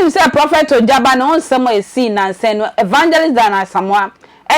Wonim sɛ Prɔfɛt Ojaba ne ho nsɛm a esii nnansa no Evangelist Diana Asamoah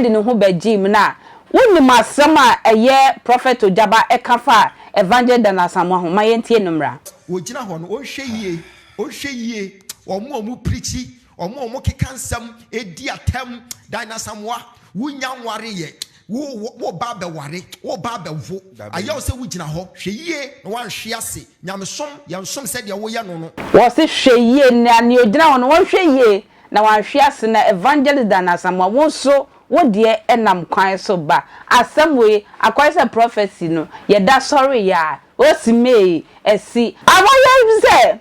de ne ho bɛgyee mu no a, wonim asɛm a ɛyɛ Prɔfɛt Ojaba ka faa Evangelist Diana Asamoah ho? Ma yɛntie no mmra. Wogyina hɔ no, wɔnhwɛ yie Wohwɛ yie, wɔn a wɔpirikyi, wɔn a wɔkeka nsɛm, di atɛm, dan asamoa, wonnya nwareeɛ, woreba abɛware, woreba abɛwo, ayɛ wo sɛ wogyina hɔ, hwɛ yie na woanhwe ase, nyamesom, yɛnsom sɛdeɛ woyɛ no no. Wɔse hwɛ yie, nea ogyina hɔ no, wɔnhwɛ yie, na wanhwe ase na Evangelist Dan Asamoah wo nso wo deɛ ɛnam kwan so ba asɛm wei akɔyɛ sɛ prophecy no yɛda sɔre yɛ a osi mee asi. Awɔyɛ bi sɛ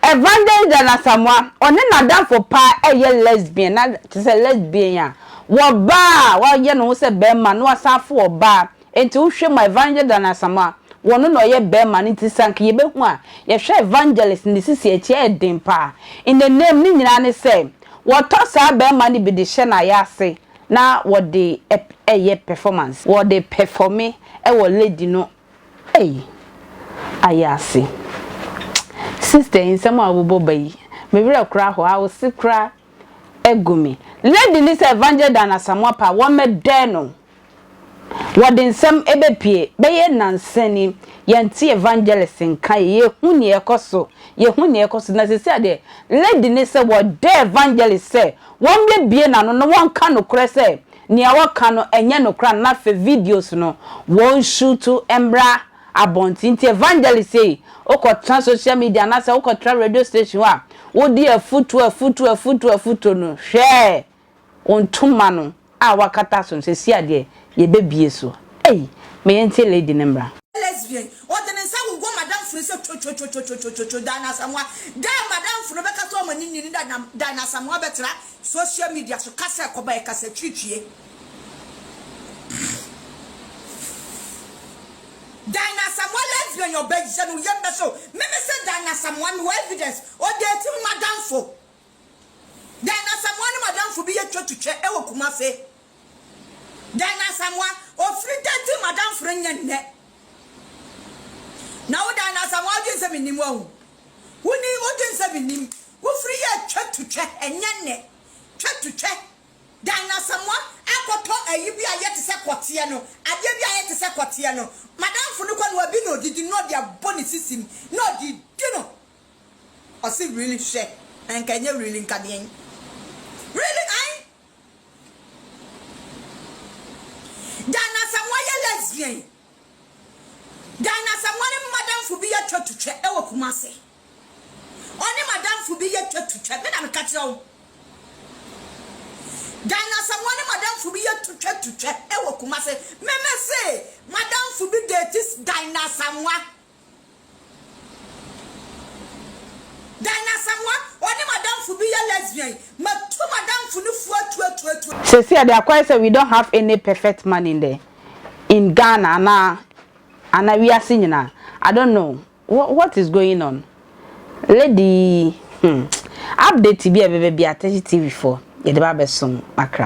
Evangelist Dan Asamoah ɔne n'adamfo paa ɛyɛ lesbian na te sɛ lesbian a wɔbaa a wɔayɛ ne ho sɛ bɛɛma na wasan fo ɔbaa. Enti wo hwɛ ma evangelist Dan Asamoah, wɔ no na ɔyɛ bɛɛma no nti sɛ anka yɛbɛhu a, yɛhwɛ evangelist no ne sisi akyi ɛyɛ den paa. In the name ne nyinaa ne sɛ wɔtɔ saa bɛɛma no bi de hyɛ no ayɛ ase na wɔde ɛyɛ performance. Wɔde performe ɛwɔ lady no ei ayɛ ase. Sister yi nsɛm a wobobɔ ba yi me werɛ koraa ahow ahose koraa agu me. Lady no sɛ evangelist Dan Asamoah paa wɔmmɛdɛɛ no. Wɔde nsɛm bɛpue. Bɛyɛ nnansa ni, yɛnte evangelist nka, yɛhu nea ɛkɔ so, yɛhu nea ɛkɔ so. Na seesei deɛ, lady no sɛ wɔda evangelist sɛ wɔmmɛbue n'ano na wɔnka nokorɛ sɛ nea wɔka no ɛnyɛ nokorɛ anaa afei videos no wɔnshuutu mmra abɔnten. Nti evangelist sei, wokɔtena social media anaasɛ wokɔtra radio station hɔ a, wode afutuo, afutuo, afutuo, afutuo no, hwɛɛ! Ntoma no a wakata so no sesie a deɛ yɛbɛbie so ei ma yɛntie lady no mmra. Lesbian, ɔde ne nsa wowɔ madamfo no sɛ twotwotwotwotwotwo Diana Asamoah da a madamfo no bɛkata ɔma no nni no da na Diana Asamoah bɛtra social media so kasa a ɛkɔba yɛ kasa twitwie Diana Asamoah lesbian ɔbɛyɛ no yɛm bɛhyew me mese Diana Asamoah mewɔ evidence ɔdate madamfo Diana Asamoah ne madamfo bi yɛ twatutwa wɔ Kumase. Diana Asamoah, ofiri da nti madamforo nyɛ nnɛ. Na wo Diana Asamoah wodwen sɛ mennim wo ahu. Woni wodwen sɛ mennim. Wofiri yɛ twatutwa ɛnyɛ nnɛ. Twatutwa. Diana Asamoah akɔtɔ ayi bi a ayɛ te sɛ kɔteɛ no, adeɛ bi a ayɛ te sɛ kɔteɛ no. Madamfo no kɔ no wabi no odidi no na ɔde abɔ ne sisi mu na ɔde redi no. Ɔse really hwɛ na nka ɛnyɛ really nka deɛn really ae Ghana Asamoah yɛ lesbian Ghana Asamoah ne madamfo bi yɛ twa to twɛ ɛwɔ Kumase ɔne madamfo bi yɛ twa to twɛ me na meka kyerɛ wo Ghana Asamoah ne madamfo bi yɛ to twa to twɛ ɛwɔ Kumase me me se madamfo bi dates Ghana Asamoah Dan no asamoah ɔne madamfo bi yɛ lesbian matu madamfo no fua tuatuatua. Sesei a de akɔyɛ sɛ we don't have any perfect man in the in Ghana anaa anaa wiase nyinaa I don't know what is going on Lady yi hmm update bi a ɛbɛba bia Tɛhye TV foɔ yɛde ba abɛsom Accra.